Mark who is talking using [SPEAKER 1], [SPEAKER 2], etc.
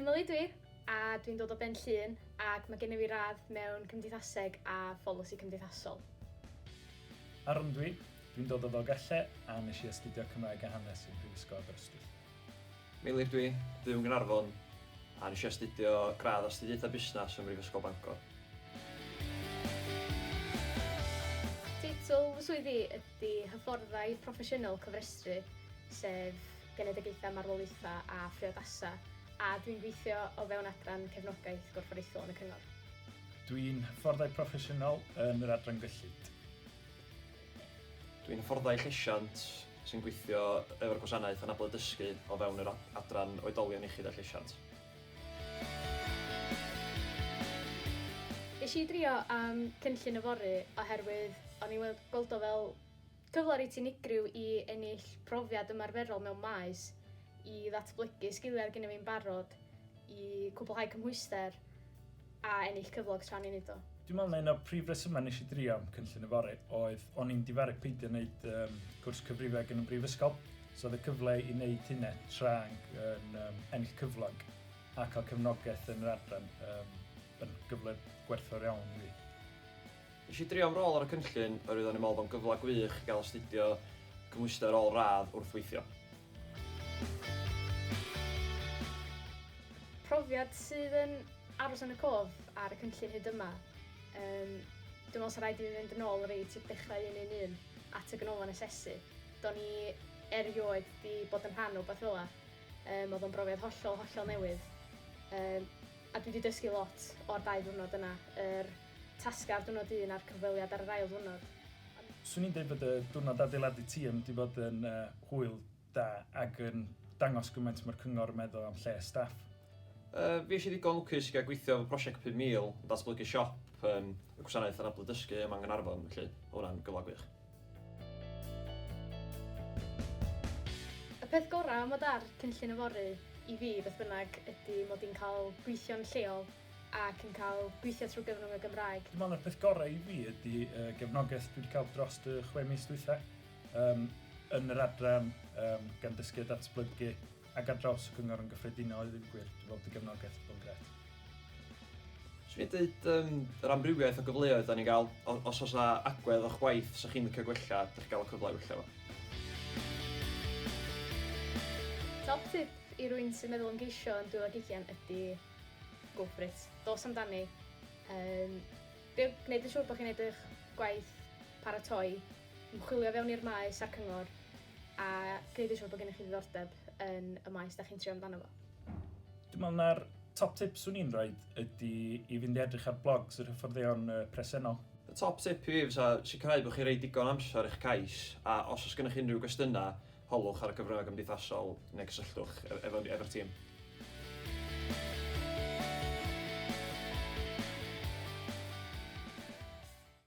[SPEAKER 1] Emily dwi, a dwi'n dod o Ben Llŷn ac mae gennym fi radd mewn Cymdeithaseg a Pholisi Cymdeithasol.
[SPEAKER 2] Aaron dwi, dwi'n dod o Ddogelle a nes i astudio Cymraeg a Hanes yn Prifysgol Aberystwyth. Meilir
[SPEAKER 3] dw i, byw yn Gaernarfon a nes i astudio gradd Astudiaethau Busnes ym Mhrifysgol Bangor.
[SPEAKER 1] Teitl fy swydd i ydy Hyfforddai Proffesiynol Cofrestru, sef Genedigaethau Marwolaethau a Phriodasau, a dw i'n gweithio o fewn adran Cefnogaeth Gorfforaethol yn y Cyngor. Dw i'n
[SPEAKER 2] Hyfforddai Proffesiynol yn yr Adran Gyllid. Dwi'n
[SPEAKER 3] hyfforddai llesiant sy'n gweithio efo'r Gwasanaeth Anabledd Dysgu o fewn yr Adran Oedolion Iechyd a Llesiant.
[SPEAKER 1] Esh i drio am cynllun yfory oherwydd o'n i'n weld gweld o fel cyfle reit unigryw i ennill profiad ymarferol mewn maes i ddatblygu sgiliau oedd gynna fi'n barod i cwblhau cymhwyster. a ennill cyflog tra'n i'n neud o. Dwi'n meddwl na un o'r prif
[SPEAKER 2] resymau nes i drio cynllun yfory oedd o'n i'n difaru peidio neud um, cwrs cyfrifeg yn y brifysgol, so oedd y cyfle i neud hynna tra'n yn um, ennill cyflog a cael cefnogaeth yn yr adran um, yn gyfle gwerthfawr iawn i fi. Nes i
[SPEAKER 3] drio am rôl ar y cynllun oherwydd o'n i'n meddwl bod o'n gyfle gwych i gael astudio cymhwyster ôl radd wrth weithio.
[SPEAKER 1] Profiad sydd yn aros yn y cof ar y cynllun hyd yma. Um, dwi'n meddwl sy'n rhaid i mi fynd yn ôl reit i'r dechrau un un un at y ganolfan asesu. Do'n i erioed di bod yn rhan o beth fel la. Um, oedd o'n brofiad hollol, hollol newydd. Um, a dwi wedi dysgu lot o'r dau ddwrnod yna. Yr tasgau ar ddiwrnod un a'r cyfweliad ar yr ail ddiwrnod. Swn i'n dweud
[SPEAKER 2] bod y diwrnod adeiladu tîm wedi bod yn hwyl da ac yn dangos gymaint mae'r cyngor yn meddwl am lles staff. Fues
[SPEAKER 3] i ddigon lwcus i gael gweithio efo prosiect 5000 yn datblygu siop yn y Gwasanaeth Anablu Dysgu yma yng Nghaernarfon felly oedd hwnna'n gyfle gwych.
[SPEAKER 1] Y peth gorau am fod ar Cynllun Yfory i fi beth bynnag ydy mod i'n cael gweithio'n lleol ac yn cael gweithio trwy gyfrwng y Gymraeg. Dwi'n meddwl na'r peth gorau i
[SPEAKER 2] fi ydy y gefnogaeth dwi wedi cael dros y chwe mis dwytha, um, yn yr adran, um, gan dysgu a datblygu, ac ar draws y cyngor yn gyffredinol i ddim gwir. Dwi'n meddwl bod y gefnogaeth wedi bod yn gret.
[SPEAKER 3] Swn i'n dweud um, yr amrywiaeth o gyfleoedd da ni'n gael, os oes agwedd o'ch gwaith sy'ch chi'n licio gwella, ydych chi'n cael y cyfle i wella fo. Top
[SPEAKER 1] tip i rwy'n sy'n meddwl am geisio yn 2020 ydy Go for it. Dos amdani. Um, gwneud yn siŵr bod chi'n gwneud eich gwaith paratoi, ymchwilio fewn i'r maes a'r cyngor, a gwneud yn siŵr bod gennych chi ddiddordeb yn y maes da chi'n trio amdano fo. Dwi'n meddwl
[SPEAKER 2] na'r top tip swn i'n rhoi ydy i fynd i edrych ar blogs yr hyfforddeion presennol. Y top tip i
[SPEAKER 3] fi fysa sicrhau bod chi'n rhoi digon amser i'ch cais, a os oes gennych unrhyw gwestiynau, Holwch ar y cyfryngau cymdeithasol neu cysylltwch efo'r tîm.